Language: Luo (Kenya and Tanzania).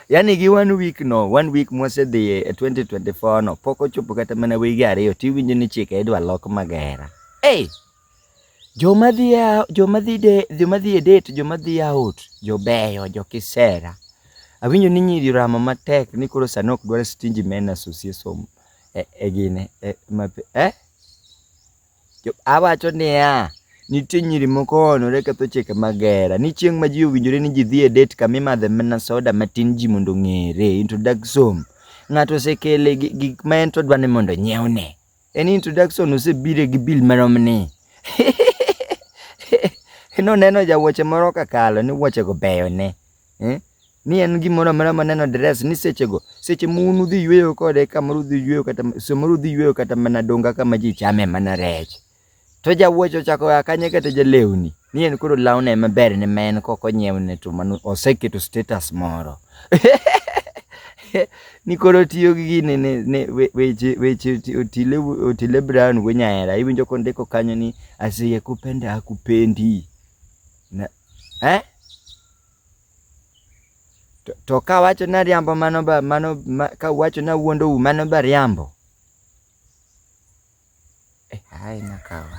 yani gi one week no one week mwasedhi e 2024 no pok ochopo kata mana wige ariyo tiwinjo ni chike idwa lok magera hey! joma dhi joma dhi de joma dhi e date joma dhi out jobeyo jokisera awinjo ni nyiri ramo matek ni koro sani ok dwar stingy men association e, e gine e, ma, eh? Awacho niya, nitie nyiri moko oonore ketho chike mag hera. Ni chieng' ma ji owinjore ni ji dhi e det kama imadhe mana soda matin ji mondo ong'ere, introduction. Ng'ato osekele gik ma en to odwa ni mondo onyiewne. En introduction osebire gi bill marom ni. Noneno jawuoche moro kakalo ni wuochego beyo ne. ni en gimoro amora maneno dress ni sechego, seche ma un udhi yweyo kode kamoro udhi yweyo kata samoro udhi yweyo kata mana donga kama ji chame mana rech. To jawuoch ochako oa kanye kata jalewni, ni en koro lawne ema berne ma en kok onyiewne to mano oseketo status moro. Ni koro otiyo gi gini ni weche weche Otile Otile Brown wuo nyahera, iwinjo kondiko kanyo ni asiyekupenda hakupendi. Eh? To, to ka wacho na riambo mano ba mano ma, ka wacho na wuondo u mano ba riambo. Eh, hai nakawa.